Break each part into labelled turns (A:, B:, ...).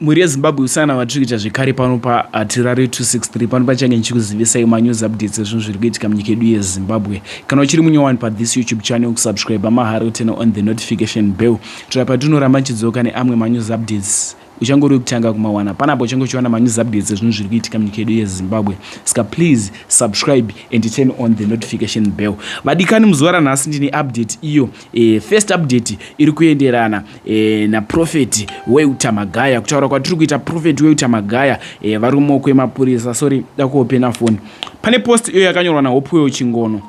A: Mhuri yeZimbabwe usana hwatiri kuita zvekare pano paHatirare 263 pano pachange ndichikuzivisai manews updates ezvinhu zviri kuitika munyika yedu yeZimbabwe. Kana uchiri munyowani pathis YouTube channel kusubscribe mahara utene on the notification bell kuitira patinoramba tichidzoka neamwe manews updates uchangori wekutanga kumawana panapo uchange uchiwana manews updates ezvinhu zviri kuitika munyika yedu yezimbabwe ska please subscribe and turn on the notification bell vadikani muzuva ranhasi ndine update iyo E, first update iri kuenderana e, naprofeti weuta magaya kutaura kwatiri kuita profeti weuta magaya e, eh, vari kumoko emapurisa sorry dakuopena foni pane post iyo yakanyorwa nahopuyo chingono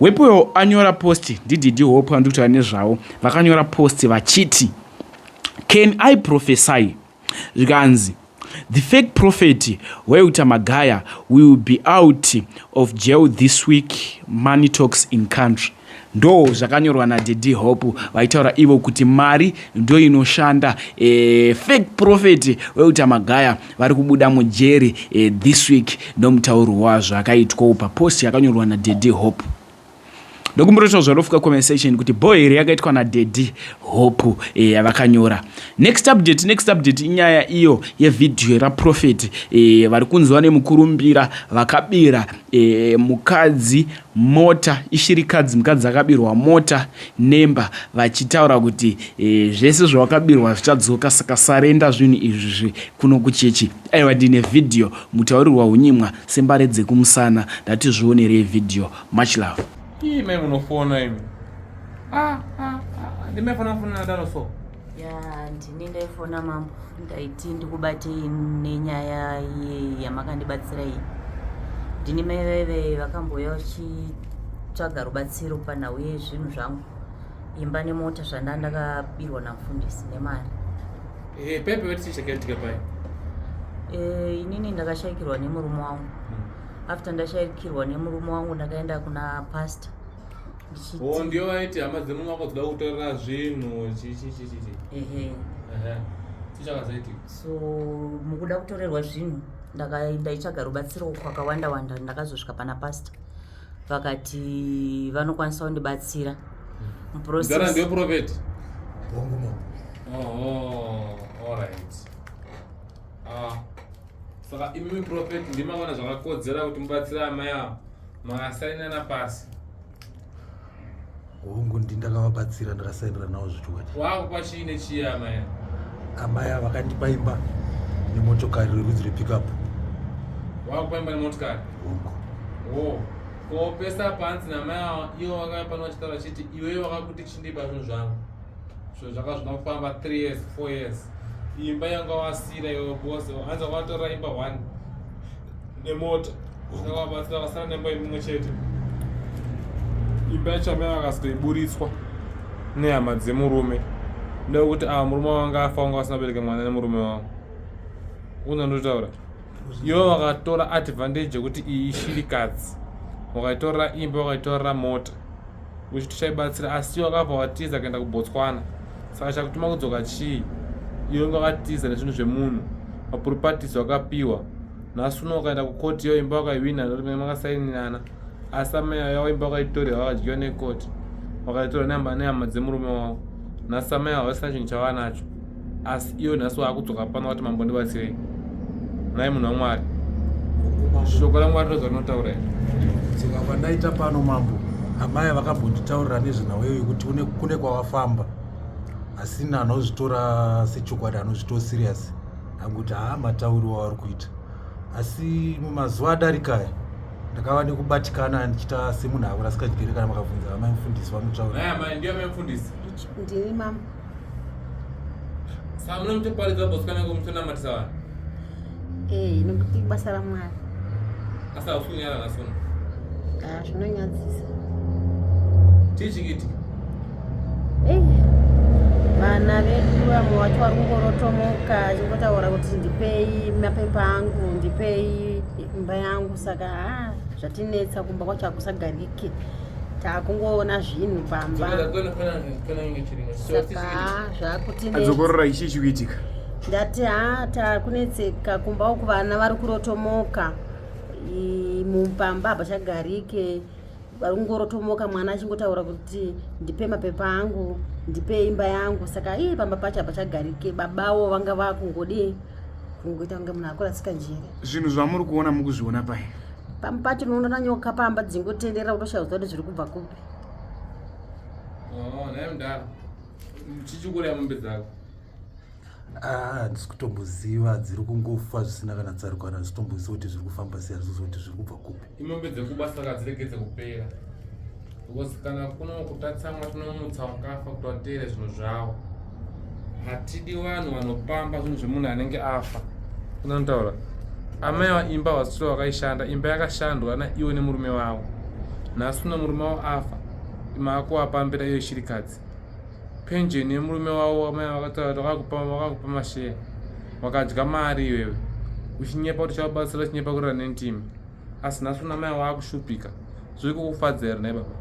A: wepuyo anyora post ndididi hopu andikutaura nezvavo vakanyora post vachiti can i prophesy zvikanzi the fake prophet weuta magaya will be out of jail this week money talks in country ndo zvakanyorwa nadedi hope vaitaura ivo kuti mari ndo inoshanda e, fake prophet weuta magaya vari kubuda mujeri e, this week nomutauro wazvo akaitwa upa post yakanyorwa nadedi hope ndokumbotoitawo zvarofuka conversation kuti bho here yakaitwa nadaddy hope eh, yavakanyora next update next update inyaya iyo yevhidhiyo yeraprofeti eh, vari kunzwa nemukurumbira vakabira eh, mukadzi mota ishirikadzi mukadzi akabirwa mota nemba vachitaura kuti zvese zvavakabirwa zvichadzoka saka sarenda zvinhu izvi kuno kuchechi aiwa ndine vhidhiyo mutaurirwa unyimwa Sembare dzekumusana ndati zvionerei video much love. Ii mai munofona
B: imi. Ah ah ah ndime fona fona nadaro so. Ya
C: ndini ndaifona mambo ndaiti ndikubatei nenyaya ye yamakandibatsira iyi. Ndini mai vaive vakambouya vachitsvaga rubatsiro panhau yezvinhu zvangu. imba nemota zvanda ndakabirwa namufundisi nemari eh, pepe
B: vetichakaitika pai eh,
C: inini ndakashaikirwa nemurume wangu hmm. after ndashaikirwa nemurume wangu ndakaenda kuna pastor oh,
B: ndiyo vaiti hama dzemurume wako dzida kutorera zvinhu chichichichichi ehe chichakazaitika so
C: mukuda kutorerwa zvinhu ndakaenda ichaga rubatsiro kwakawanda wanda ndakazosvika pana pastor vakati vanokwanisa kundibatsira muprocessndeprofeti
B: saka imimi profeti ndimavona zvakakodzera kuti mubatsira amai avo makasainana pasi
D: hongu ndi ndakavabatsira ndakasaendera navo zvechokwadi wavo kwachiine chiye
B: amai amai ava
D: vakandipa imba nemotokari rerudzi repickup
B: wavo kwaimba nemotokari
D: hongu wo ko pesa
B: panzi namai ava ivo vakauya pano vachitaura vachiti iweyo vakakuti chindipa zvinhu zvangu zvinhu zvanga zvina kufamba three years four years imba yanga wasira iwe bose hanzi wakatora imba one nemota zvakabatsira vasara nemba imwe chete imba yacho amai vakazoiburitswa nehama dzemurume ndekuti ava ah, murume wanga afa wanga vasina bereke mwana nemurume wavo unandotaura ivo vakatora advantage yekuti iyi ishirikadzi wakaitorera imba wakaitorera mota uchiti chaibatsira asi wakabva watiza kuenda kubotswana saka chakutuma kudzoka chii iyo inga wakatiza nezvinhu zvemunhu mapuripatisi wakapiwa nhasi uno ukaenda kukoti iyo imba wakaihwina ndorimene makasaininana asi amai yavo imba wakaitorera wakadyiwa nekoti wakaitora nehama dzemurume wavo nhasi amai havasina chinhu chavanacho asi iyo nhasi waakudzoka pano wati mambo ndibatsirei nhai munhu wamwari shoko ramwari roza rinotaura iri tsika
D: kwandaita pano mambo amaya vakambonditaurira nezvenhau iyo yekuti kune kwawafamba asina anozvitora sechokwadi anozvitora serious akuti haa matauri wavari kuita asi mumazuva adarikaya ndakava nekubatikana ndichita semunhu akurasika chigere kana makabvunza amai mufundisi vanotaura
B: Saka munomutoparidza bosikana ko mutonamatisa vanhu. Eh,
C: nokuti basa raMwari. Asi
B: hausunyara nhasi uno. Ah,
C: zvinonyadzisa.
B: Chii chikiti? Eh,
C: vana vedu vamwe vacho vari kungorotomoka achingotaura kuti ndipei mapepa angu ndipei imba yangu saka ah, zvatinetsa kumba kwacho hakusagarike ah, takungoona zvinhu pamba saka zvakutinadzokorora ichi chikuitika
A: ndati ha
C: takunetseka kumba uku vana vari kurotomoka mupamba hapachagarike vari kungorotomoka mwana achingotaura kuti ndipe mapepa angu ndipe imba yangu saka ii pamba pacho hapachagarike babawo vanga vakungodii kungoita kunge munhu akurasika njere zvinhu zvamuri kuona
A: mukuzviona pai pamwe pacho unoona
C: na nyoka pamba dzingotenderera utoshaya kuziva kuti zviri kubva kupi oh,
B: naye mudhara chichikuraya mombe dzako
D: handisi ah, kutomboziva dziri kungofa zvisina kana tsaruko kana handisi kutomboziva kuti zviri kufamba sei handisi kuziva kuti zviri kubva kupi imombe dzekubasa saka
B: dziregedze kupera because kana kuno kutatsamwa tinomutsa wakafa kuti wateere zvinhu zvavo hatidi vanhu vanopamba zvinhu zvemunhu anenge afa unantaura amai vaimba vasiro vakaishanda imba yakashandwa naiwo nemurume wavo nhasi uno murume wavo afa maakuvapambira iyo shirikadzi penjeni yemurume wavo amai vakataura vakakupa vakakupa masheya wakadya mari iwewe uchinyepa kuti chavabatsira uchinyepa kurira nentimi asi nhasi una mai waakushupika zviri kukufadza here nai baba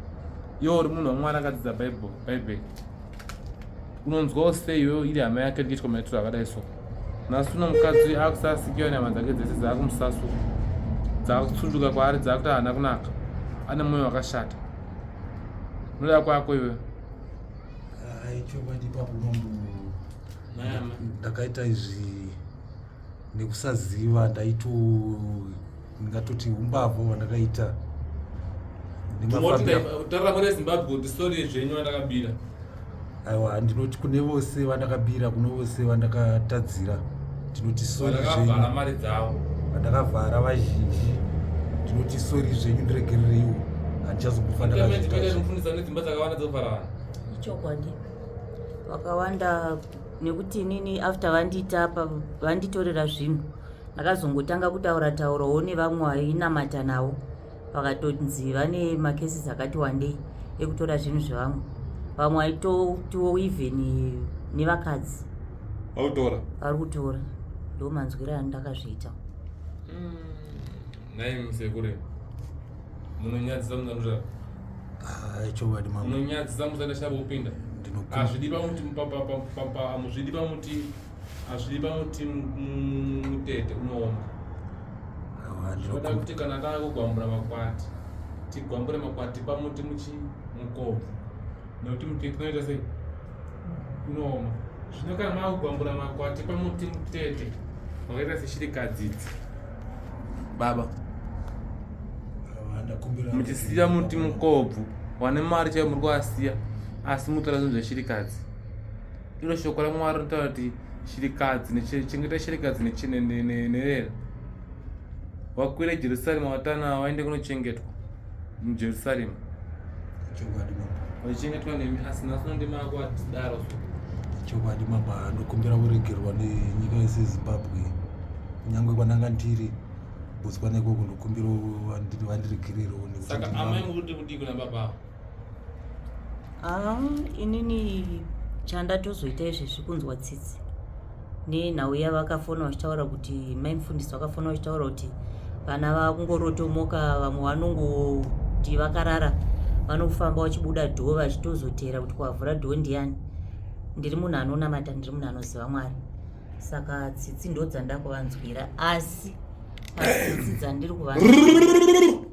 B: iwe uri munhu wamwana akadzidza bible bible unonzwawo sei iwewo iri hama yake rikiitwa maitiro akadai so nhasi uno mukadzi uyu akusasikiwa nyama dzake dzese dzaakumusaswo dzaakutsunduka kwaari dzaakuti haana kunaka ane mwoyo wakashata unoda kwako iwe
D: ndakaita izvi nekusaziva ndaito ndingatoti umbavha hwandakaita
B: taura kune zimbabwe kuti sori zvenyu vandakabira aiwa
D: ndinoti kune vose vandakabira kune vose vandakatadzira ndinoti sori zvakavhara mari dzavo
B: vandakavhara
D: vazhinji ndinoti sori zvenyu ndiregerereiwo handichazokufaniraifundisa nedzimba dzakawanda
B: dzokuvhara vanhu ichokwadi
E: vakawanda nekuti inini after vanditapa vanditorera zvinhu ndakazongotanga kutaura taurawo nevamwe vainamata navo vakatonzi vane macases akati wandei ekutora zvinhu zvevamwe vamwe aitotiwo even nevakadzi vakutora vari kutora ndo manzwiro andakazviita mm.
B: Nhai musekure. Munonyadzisa munanura. Ah,
D: chokwadi mama. Munonyadzisa musana shabo
B: upinda. Ndinokumbira. Azvidi pamuti papa papa amuzvidi pamuti azvidi pamuti mutete unooma. Ah, Ndinoda kuti kana taako gwambura makwati. Tigwambure makwati pamuti muchi mukobvu. Nokuti mutete unoita sei? Unooma. Zvino kana maakugwambura makwati pamuti mutete. Wakaita seshirikadzi idzi. baba muchisiya muti mukobvu wane mari chaiyo muri kuasiya asi mutora zvinhu zveshirikadzi iro shoko ramwari rinotaura kuti shirikadzi chengeta shirikadzi nerera wakwira jerusalema watana waende kunochengetwa mujerusarema chokwadi baba vachichengetwa nemi asi nhasi uno ndima ako atidaro so chokwadi
D: baba ndokumbira kuregerwa nenyika yese yezimbabwe kunyange kwananga ndiri botswana ikoko ndokumbira vandi- vandiregererewo nekuti saka ndinavo. amai muri
B: kuti kudii kuna baba avo
E: Ah, inini chandatozoita izvezvi kunzwa tsitsi nenhau yavakafona vachitaura kuti mai mufundisi vakafona vachitaura kuti vana vakungorotomoka vamwe vanongoti vakarara vanofamba vachibuda dho vachitozoteera kuti kwavhura dho ndiyani ndiri munhu anonamata ndiri munhu anoziva mwari saka tsitsi ndodzandakuvanzwira asi pasi dzandiri kuva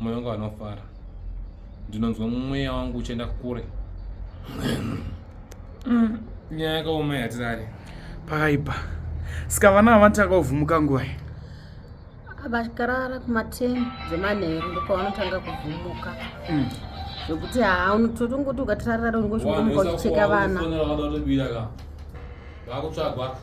B: moyo wangu anofara ndinonzwa mweya wangu uchienda kure mm, nyaya yakaoma yatirari pakaipa
A: saka vana ava vanoti akavhumuka nguva vakarara
C: kumateni dzemanheru ndokwavanotanga kuvhumuka mm. zvekuti haa unototi ungoti ukatirarara ungochimuka uchicheka vana vakutsvagwa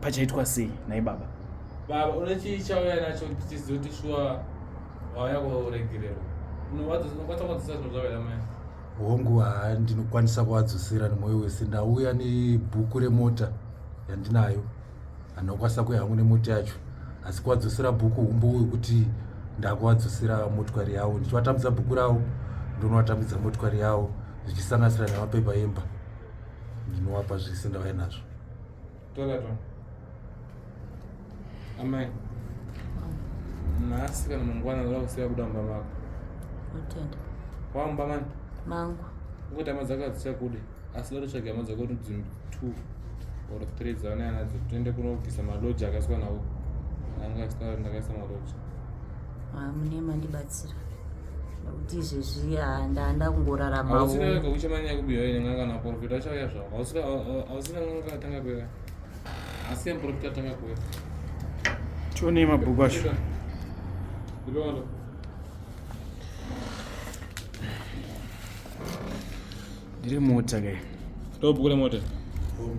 A: pachaitwa sei nhai baba baba une
B: chii chauya nacho tichiziva kuti shuwa wauya kuregererwa unokwanisa kuadzosera zvinhu zvavela mai hongu haa
D: ndinokwanisa kuadzosera nemwoyo wese ndauya nebhuku remota yandinayo handinokwanisa kuya hangu nemota yacho asi kuadzosera bhuku humbo wekuti ndakuadzosera motokari yavo ndichivatambidza bhuku ravo ndonovatambidza motokari yavo zvichisanganisira nemapepa emba ndinovapa zvese ndauya nazvo Tell that
B: one. Amai. Nhasi kana mangwana ndoda kusiya kuda mumba mako. Utenda.
E: Wamba
B: mani? Mangu.
E: Ngokuti hama dzako
B: hadzichakude asi ndoda kutsvaga hama dzako kuti dzimwe two or three dzavanaya nadzo tiende kunobvisa maloji akaiswa nawo. Anga asitaura kuti ndakaisa maloji. Ah, mune
E: mandibatsira kuti izvezvi ah, ndanda kungorarama hausina wega uchamanya
B: kubiwa ine n'anga kana profita achauya zvavo hausina hausina n'anga atanga kuya asi ya profita atanga kuya
A: tionei mabhuku acho ndipeono ndiri mota ke ndobhuku remota
B: Boom.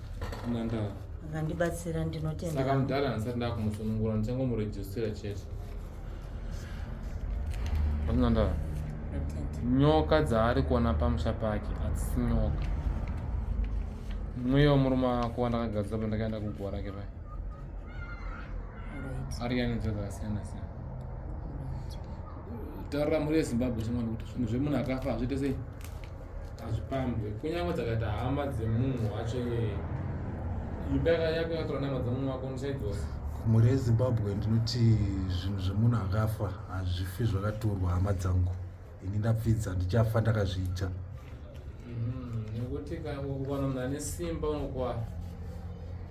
B: vandibatsira
E: ndinotenda saka mudhara handisati
B: ndakumusunungura ndichangomurejistira chete atinandava
E: nyoka dzaari
B: kuona pamusha pake hadzisi nyoka mweya wemurume wako wandakagadzira pandakaenda kuguva rake pai
E: ari yani nzira dzakasiyana
B: siyana taurira mhuri yezimbabwe chimwe kuti zvinhu zvemunhu akafa hazviite sei hazvipambwe kunyange dzakaita hama dzemunhu wacho iyeye imba yako yakatora nama dzemunhu wako ndisaidzosa mhuri yezimbabwe
D: ndinoti zvinhu zvemunhu akafa hazvifi zvakatorwa hama dzangu ini ndapfidza ndichafa ndakazviita mm-hmm. nekuti
B: kana munhu ane simba unokwara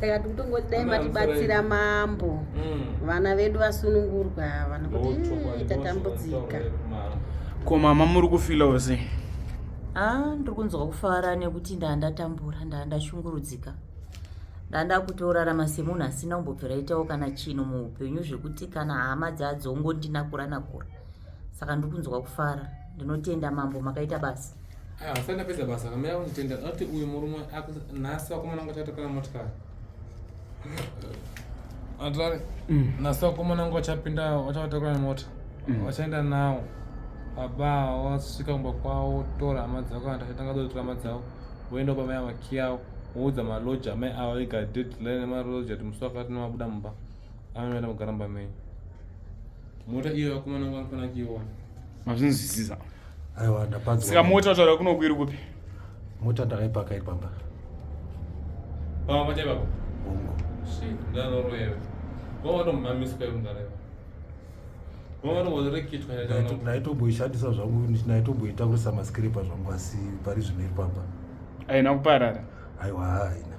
B: saka tiri kutongoti dai
C: matibatsira mambo mm. vana vedu vasunungurwa ava nokuti tatambudzika ko
A: mama muri kufilawo sei a
E: ndiri kunzwa kufara nekuti ndaa ndatambura ndaa ndashungurudzika ndaa ndakutorarama semunhu asina kumbobvira itawo kana chinhu muupenyu zvekuti kana hama dzadzongondinakuranakura saka ndikunzwa kufara ndinotenda mambo makaita basa ah, asati ndapedza
B: basa kamira kunditenda ati uyu murume nhasi vakomana vangu vachatokana motikari atari mm. nhasi vakomana vangu vachapinda vachavatokana mota mm. vachaenda nawo baba wasvika kumba kwavo tora hama dzako kana tachatanga dotora hama dzavo voenda bamai avakiyawo woudza maloja amai ava vega deadline nemaloja kuti musi wakati nemabuda mumba amai vaenda kugara mumba menyu mota iyo vakomana vangu vanofanira kuiona
A: mazvinzwisisa aiwa
D: ndapanzwa saka mota taura kunoku
A: iri kupi mota
D: ndakaipaka iri pamba
B: pamba pacha ipapo hongu ndanoroyewe wavatomamiswa ivo ndareva ndaitomboishandisa zvangu
D: ndaitomboitakurisa maskiripa zvangu asi pari zvino iri pamba haina kuparara
A: aiwa haina